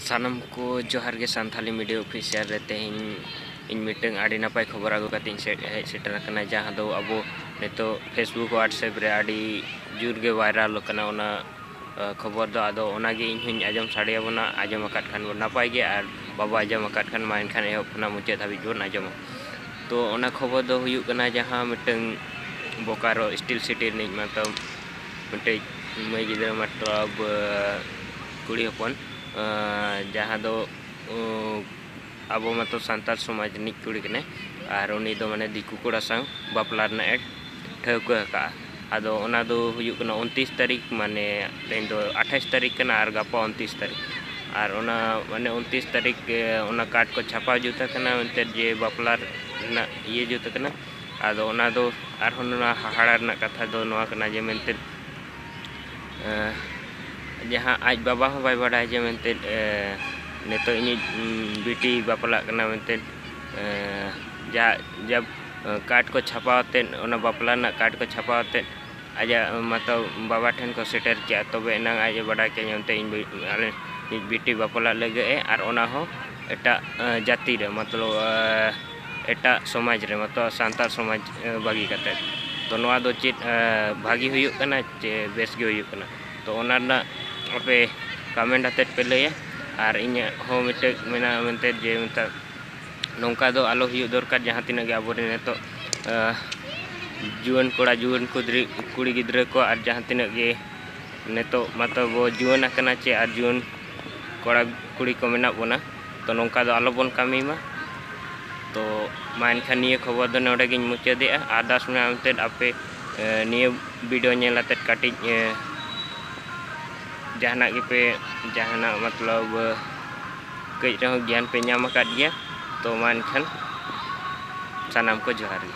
ᱥᱟᱱᱟᱢ ᱠᱚ ᱡᱚᱦᱟᱨ ᱜᱮ ᱥᱟᱱᱛᱷᱟᱞᱤ ᱢᱤᱰᱤᱭᱟ ᱚᱯᱷᱤᱥᱤᱭᱟᱞ ᱨᱮ ᱛᱮᱦᱮᱧ ᱤᱧ ᱢᱤᱫᱴᱟᱝ ᱟᱹᱰᱤ ᱱᱟᱯᱟᱭ ᱠᱷᱚᱵᱚᱨ ᱟᱹᱜᱩ ᱠᱟᱛᱮ ᱤᱧ ᱦᱮᱡ ᱥᱮᱴᱮᱨ ᱟᱠᱟᱱᱟ ᱡᱟᱦᱟᱸ ᱫᱚ ᱟᱵᱚ ᱱᱤᱛᱚᱜ ᱯᱷᱮᱥᱵᱩᱠ ᱦᱳᱣᱟᱴᱥᱮᱯ ᱨᱮ ᱟᱹᱰᱤ ᱡᱳᱨ ᱜᱮ ᱵᱷᱟᱭᱨᱟᱞ ᱠᱟᱱᱟ ᱚᱱᱟ ᱠᱷᱚᱵᱚᱨ ᱫᱚ ᱟᱫᱚ ᱚᱱᱟᱜᱮ ᱤᱧ ᱦᱚᱧ ᱟᱸᱡᱚᱢ ᱥᱟᱰᱮᱭᱟᱵᱚᱱᱟ ᱟᱸᱡᱚᱢ ᱟᱠᱟᱫ ᱠᱷᱟᱱ ᱵᱚᱱ ᱱᱟᱯᱟᱭ ᱜᱮ ᱟᱨ ᱵᱟᱵᱚ ᱟᱸᱡᱚᱢ ᱟᱠᱟᱫ ᱠᱷᱟᱱ ᱢᱟ ᱮᱱᱠᱷᱟᱱ ᱮᱦᱚᱵ ᱠᱷᱚᱱᱟᱜ ᱢᱩᱪᱟᱹᱫ ᱫᱷᱟᱹᱵᱤᱡ ᱵᱚᱱ ᱟᱸᱡᱚᱢᱟ ᱛᱚ ᱚᱱᱟ ᱠᱷᱚᱵᱚᱨ ᱫᱚ ᱦᱩᱭᱩᱜ ᱠᱟᱱᱟ ᱡᱟᱦᱟᱸ ᱢᱤᱫᱴᱟᱝ ᱵᱳᱠᱟᱨᱳ ᱥᱴᱤᱞ ᱥᱤᱴᱤ ᱨᱤᱱᱤᱡ ᱢᱟᱛᱚ ᱢᱤᱫᱴᱮᱡ ᱢᱟᱹᱭ ᱜᱤᱫᱽᱨᱟᱹ ᱢᱟᱛᱞᱟᱵ ᱠᱩᱲᱤ ᱦᱚᱯᱚᱱ ᱡᱟᱦᱟᱸ ᱫᱚ ᱟᱵᱚ ᱢᱟᱛᱚ ᱥᱟᱱᱛᱟᱲ ᱥᱚᱢᱟᱡᱽ ᱨᱤᱱᱤᱡ ᱠᱩᱲᱤ ᱠᱟᱱᱟᱭ ᱟᱨ ᱩᱱᱤ ᱫᱚ ᱢᱟᱱᱮ ᱫᱤᱠᱩ ᱠᱚᱲᱟ ᱥᱟᱶ ᱵᱟᱯᱞᱟ ᱨᱮᱱᱟᱜ ᱮ ᱴᱷᱟᱹᱣᱠᱟᱹ ᱟᱠᱟᱫᱼᱟ ᱟᱫᱚ ᱚᱱᱟ ᱫᱚ ᱦᱩᱭᱩᱜ ᱠᱟᱱᱟ ᱩᱱᱛᱤᱥ ᱛᱟᱹᱨᱤᱠᱷ ᱢᱟᱱᱮ ᱛᱮᱦᱮᱧ ᱫᱚ ᱟᱴᱷᱟᱥ ᱛᱟᱹᱨᱤᱠᱷ ᱠᱟᱱᱟ ᱟᱨ ᱜᱟᱯᱟ ᱩᱱᱛᱤᱥ ᱛᱟᱹᱨᱤᱠᱷ ᱟᱨ ᱚᱱᱟ ᱢᱟᱱᱮ ᱩᱱᱛᱤᱥ ᱛᱟᱹᱨᱤᱠᱷ ᱚᱱᱟ ᱠᱟᱨᱰ ᱠᱚ ᱪᱷᱟᱯᱟ ᱡᱩᱛ ᱟᱠᱟᱱᱟ ᱮᱱᱛᱮᱫ ᱡᱮ ᱵᱟᱯᱞᱟ ᱨᱮᱱᱟᱜ ᱤᱭᱟᱹ ᱡᱩᱛ ᱟᱠᱟᱱᱟ ᱟᱫᱚ ᱚᱱᱟ ᱫᱚ ᱟᱨᱦᱚᱸ ᱱᱚᱣᱟ ᱦᱟᱦᱟᱲᱟ ᱨᱮᱱᱟᱜ ᱠᱟᱛᱷᱟ ᱫᱚ ᱱᱚᱣᱟ ᱠᱟᱱᱟ ᱡᱮ ᱢᱮᱱᱛᱮ ᱡᱟᱦᱟᱸ ᱟᱡ ᱵᱟᱵᱟ ᱦᱚᱸ ᱵᱟᱭ ᱵᱟᱰᱟᱭ ᱡᱮ ᱢᱮᱱᱛᱮ ᱱᱤᱛᱚᱜ ᱤᱧᱤᱡ ᱵᱤᱴᱤ ᱵᱟᱯᱞᱟᱜ ᱠᱟᱱᱟ ᱢᱮᱱᱛᱮ ᱡᱟ ᱡᱟ ᱠᱟᱨᱰ ᱠᱚ ᱪᱷᱟᱯᱟ ᱟᱛᱮᱫ ᱚᱱᱟ ᱵᱟᱯᱞᱟ ᱨᱮᱱᱟᱜ ᱠᱟᱨᱰ ᱠᱚ ᱪᱷᱟᱯᱟ ᱟᱛᱮᱫ ᱟᱡᱟᱜ ᱢᱟᱛᱚ ᱵᱟᱵᱟ ᱴᱷᱮᱱ ᱠᱚ ᱥᱮᱴᱮᱨ ᱠᱮᱜᱼᱟ ᱛᱚᱵᱮ ᱮᱱᱟᱝ ᱟᱡ ᱮ ᱵᱟᱰᱟᱭ ᱠᱮᱜᱼᱟ ᱚᱱᱛᱮ ᱤᱧ ᱟᱞᱮ ᱤᱧ ᱵᱤᱴᱤ ᱵᱟᱯᱞᱟᱜ ᱞᱟᱹᱜᱤᱫ ᱮ ᱟᱨ ᱚᱱᱟ ᱦᱚᱸ ᱮᱴᱟᱜ ᱡᱟᱹᱛᱤ ᱨᱮ ᱢᱚᱛᱞᱚᱵ ᱮᱴᱟᱜ ᱥᱚᱢᱟᱡᱽ ᱨᱮ ᱢᱚᱛᱞᱚᱵ ᱥᱟᱱᱛᱟᱲ ᱥᱚᱢᱟᱡᱽ ᱵᱟᱹᱜᱤ ᱠᱟᱛᱮᱫ ᱛᱚ ᱱᱚᱣᱟ ᱫᱚ ᱪᱮᱫ ᱵᱷᱟᱹᱜᱤ ᱦᱩᱭᱩᱜ ᱠᱟᱱᱟ ᱪᱮ ᱵᱮᱥ ᱜᱮ ᱦᱩᱭᱩᱜ ᱠᱟᱱᱟ ᱛᱚ ᱚᱱᱟ ᱨᱮᱱᱟᱜ ᱟᱯᱮ ᱠᱚᱢᱮᱱᱴ ᱟᱛᱮᱫ ᱯᱮ ᱞᱟᱹᱭᱟ ᱟᱨ ᱤᱧᱟᱹᱜ ᱦᱚᱸ ᱢᱤᱫᱴᱮᱡ ᱢᱮᱱᱟᱜᱼᱟ ᱢᱮᱱᱛᱮ ᱡᱮ ᱢᱮᱛᱟᱜ ᱱᱚᱝᱠᱟ ᱫᱚ ᱟᱞᱚ ᱦᱩᱭᱩᱜ ᱫᱚᱨᱠᱟᱨ ᱡᱟᱦᱟᱸ ᱛᱤᱱᱟᱹᱜ ᱜᱮ ᱟᱵᱚᱨᱮᱱ ᱱᱤᱛᱚᱜ ᱡᱩᱣᱟᱹᱱ ᱠᱚᱲᱟ ᱡᱩᱣᱟᱹᱱ ᱠᱩᱫᱽᱨᱤ ᱠᱩᱲᱤ ᱜᱤᱫᱽᱨᱟᱹ ᱠᱚ ᱟᱨ ᱡᱟᱦᱟᱸ ᱛᱤᱱᱟᱹᱜ ᱜᱮ ᱱᱤᱛᱚᱜ ᱢᱟᱛᱚ ᱵᱚ ᱡᱩᱣᱟᱹᱱ ᱟᱠᱟᱱᱟ ᱪᱮ ᱟᱨ ᱡᱩᱣᱟᱹᱱ ᱠᱚᱲᱟ ᱠᱩᱲᱤ ᱠᱚ ᱢᱮᱱᱟᱜ ᱵᱚᱱᱟ ᱛᱚ ᱱᱚᱝᱠᱟ ᱫᱚ ᱟᱞᱚ ᱵᱚᱱ ᱠᱟᱹᱢᱤ ᱢᱟ ᱛᱚ ᱢᱟ ᱮᱱᱠᱷᱟᱱ ᱱᱤᱭᱟᱹ ᱠᱷᱚᱵᱚᱨ ᱫᱚ ᱱᱚᱰᱮ ᱜᱤᱧ ᱢᱩᱪᱟᱹᱫᱮᱜᱼᱟ ᱟᱨᱫᱟᱥ ᱢᱮᱱᱟᱜᱼᱟ ᱮᱱᱛᱮᱫ ᱟᱯᱮ ᱱᱤᱭᱟᱹ ᱵᱷᱤᱰᱤᱭᱳ ᱧᱮᱞ ᱟᱛᱮᱫ ᱠᱟᱹᱴᱤᱡ ᱡᱟᱦᱟᱱᱟᱜ ᱜᱮᱯᱮ ᱡᱟᱦᱟᱱᱟᱜ ᱢᱚᱛᱞᱚᱵ ᱠᱟᱹᱡ ᱨᱮᱦᱚᱸ ᱜᱮᱭᱟᱱ ᱯᱮ ᱧᱟᱢ ᱟᱠᱟᱫ ᱜᱮᱭᱟ ᱛᱚ ᱢᱟ ᱮᱱᱠᱷᱟᱱ ᱥᱟᱱᱟᱢ ᱠᱚ ᱡᱚᱦᱟᱨ ᱜᱮ